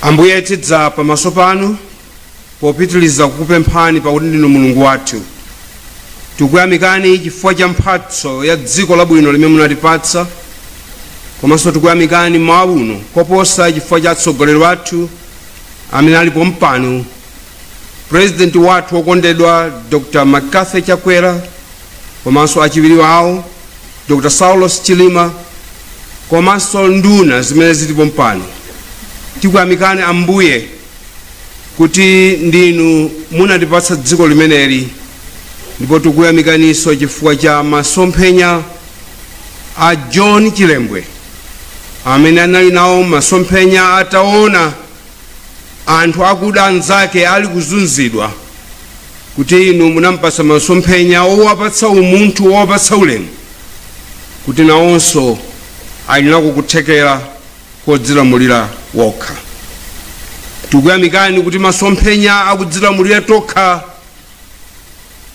ambuye tidza pamaso panu popitiliza kukupemphani pakuti ndinu mulungu wathu tikuyamikani chifukwa cha mphatso ya dziko labwino limene munatipatsa komanso tikuyamikani mawa uno koposa chifukwa cha atsogoleri wathu amene ali pompano purezidenti wathu wokondedwa dr mccarthy chakwera komanso achiwiri wawo dr saulos chilima komanso nduna zimene zili pompano tikuyamikani ambuye kuti ndinu munatipatsa dziko limeneli ndipo tikuyamikaninso chifukwa cha masomphenya a john chilembwe amene anali nawo masomphenya ataona anthu akuda anzake ali kuzunzidwa kuti inu munampatsa masomphenya owapatsa umunthu owapatsa ulemu kuti nawonso ali nako kuthekera kodzilamulira wokha tikuyamikani kuti masomphenya akudzilamulira tokha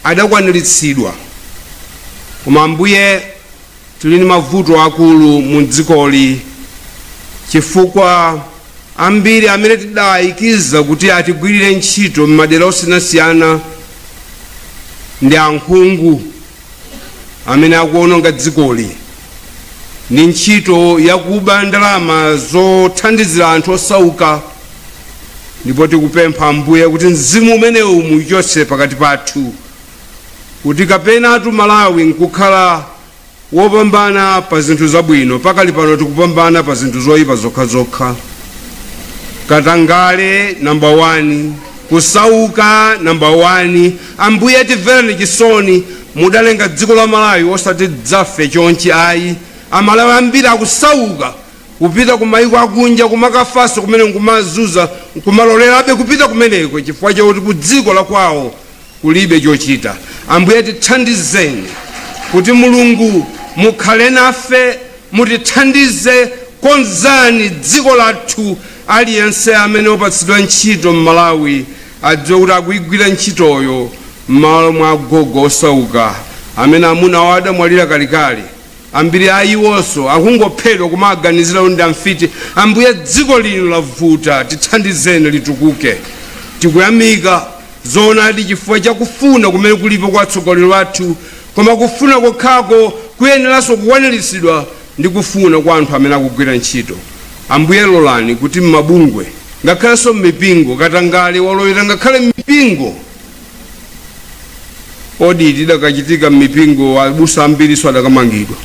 adakwaniritsidwa koma ambuye Tili ndi mavuto akulu mu dzikoli chifukwa ambiri amene tidaayikiza kuti atigwirire ntchito m'madera osiyanasiyana ndi ankhungu amene akuwononga dzikoli ndi ntchito yakuba ndalama zothandizira anthu osauka ndipo tikupempha Ambuye kuti mzimu umenewu muuchotse pakati pathu. kuti kapenatu Malawi nkukhala wopambana pa zinthu zabwino. Pakali pano tikupambana pa zinthu zoyipa zokhazokha, katangale namba 1, kusauka namba 1. Ambuye timvereni chisoni, mudalenga dziko la Malawi osati tidzafe chonchi ayi. Amalawi ambiri akusauka kupita kumayiko akunja kumakafanso komweko nkumazuza nkumalolerabe kupita kumeneko chifukwa chakuti ku dziko la kwawo kulibe chochita. Ambuye tithandizeni kuti Mulungu mukhale nafe mutithandize konzani dziko lathu aliyense amene wapatsidwa ntchito m'Malawi adziwe kuti akuigwira ntchitoyo m'malo mwa agogo osauka amene amuna awo adamwalira kalekale. Ambiri a iwonso akungophedwa kumawaganizira kuti ndi amfiti. Ambuye dziko lino lavuta tithandizeni litukuke. Tikuyamika zoonadi chifukwa cha kufuna kumene kulipo kwa atsogoleri athu koma kufuna kokhako kuyeneranso kukwaniritsidwa ndi kufuna kwa anthu amene akugwira ntchito. Ambuye lolani kuti mmabungwe ngakhalenso mmipingo katangale walowera ngakhale mmipingo. oti zidakachitika m'mipingo abusa ambirinso adakamangidwa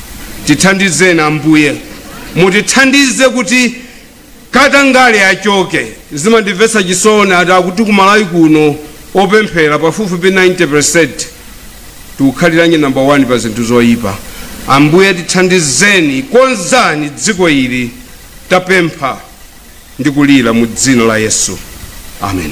tithandizeni ambuye mutithandize kuti katangale achoke zimandimvetsa chisoni ati akuti kumalawi kuno opemphera pafupifupi 90 percent tikukhaliranji namba 1 pa zinthu zoyipa ambuye tithandizeni konzani dziko ili tapempha ndi kulira mu dzina la yesu amen